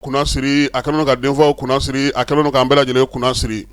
kunnasiri a kɛlen ka denfaw kunnasiri a kɛlen k'an bɛɛ lajɛlen kunnasiri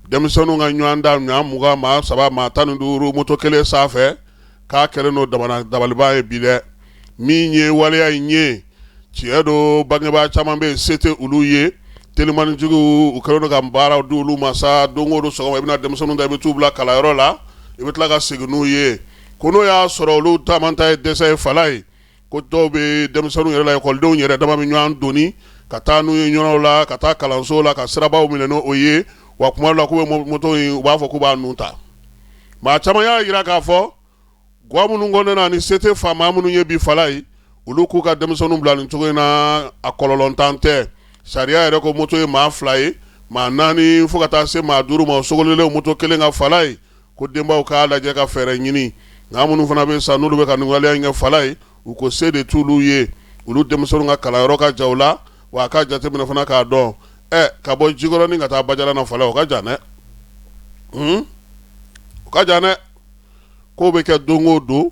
denmisɛnninw ka ɲɔgɔn da ɲɔgɔn kan maa saba maa naani duuru moto kelen sanfɛ k'a kɛlen don dabaliban ye bi dɛ min ye waleya in ye tiɲɛ don bangebaa caman bɛ yen se tɛ olu ye telimanitigiw u kɛlen ka baaraw di olu ma sa don o don sɔgɔma i bɛ na denmisɛnninw ta i bɛ taa u bila kalanyɔrɔ la i bɛ tila ka segin n'u ye ko n'o y'a sɔrɔ olu taama ta ye dɛsɛ ye fala ye ko dɔw bɛ denmisɛnninw yɛrɛ lekɔlidenw yɛrɛ dama bɛ ɲɔgɔn doni ka taa n'u ye ɲɔgɔn la ka taa kalanso la ka sirabaw minɛ n'o ye wa tuma dɔ la k'u bɛ moto in u b'a fɔ k'u b'a nun ta maa caman y'a jira k'a fɔ ga minnu kɔnɔ na ni se tɛ fa maa minnu ye bi fala ye olu k'u ka denmisɛnninw bila nin cogo in na a kɔlɔlɔntan tɛ sariya yɛrɛ ko moto ye maa fila ye maa naani fo ka taa se maa duuru ma sogolonnen moto kelen kan fala ye Ko denbaw k'a lajɛ ka fɛɛrɛ ɲini, nka minnu fana bɛ sa n'olu bɛ ka nin waleya in kɛ fala ye, u ko se de t'olu ye, olu denmisɛnninw ka kalanyɔrɔ ka jan u la, wa a k'a jateminɛ fana k'a dɔn, ɛ, ka bɔ Jikɔrɔni ka taa Bajalan na fala, o ka jan dɛ, hun, o ka jan dɛ, k'o bɛ kɛ don o don,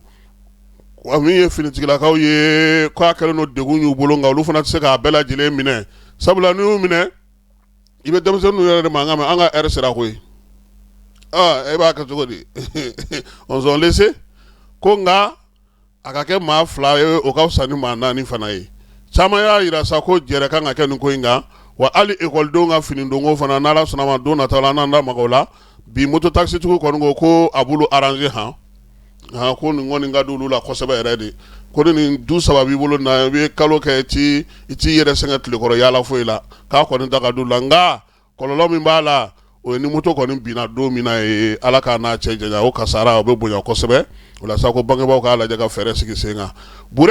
wa min ye finitigilakaw ye, k'a kɛlen don degun y'u bolo, nka olu fana tɛ se k'a bɛɛ lajɛlen minɛ, sabula n'i y'u minɛ, i bɛ denmisɛnninw yɛrɛ de mankan mɛn an ka heure sera koyi e b'a kɛ cogo di on s'en laisse ko nka a ka kɛ maa fila ye o ka fisa ni maa naani fana ye caman y'a jira sa ko jɛrɛ ka kan ka kɛ nin ko in kan wa hali ekɔlidenw ka finidonko fana n'Ala sɔnna ma don nataw la n'an da maga o la bi moto taxitigiw kɔni ko ko a b'olu arranger h aa ko nin kɔni ka di olu la kosɛbɛ yɛrɛ de ko ni nin du saba b'i bolo na i bɛ kalo kɛ ti i t'i yɛrɛ sɛgɛn tile kɔrɔ yaala foyi la k'a kɔni ta ka d'olu la nka kɔlɔlɔ min b'a la o ye ni moto kɔni binna don min na ye ala k'an n'a cɛ janya o kasaara o bɛ bonya kosɛbɛ o la sa ko bangebagaw k'a lajɛ ka fɛɛrɛ sigi sen kan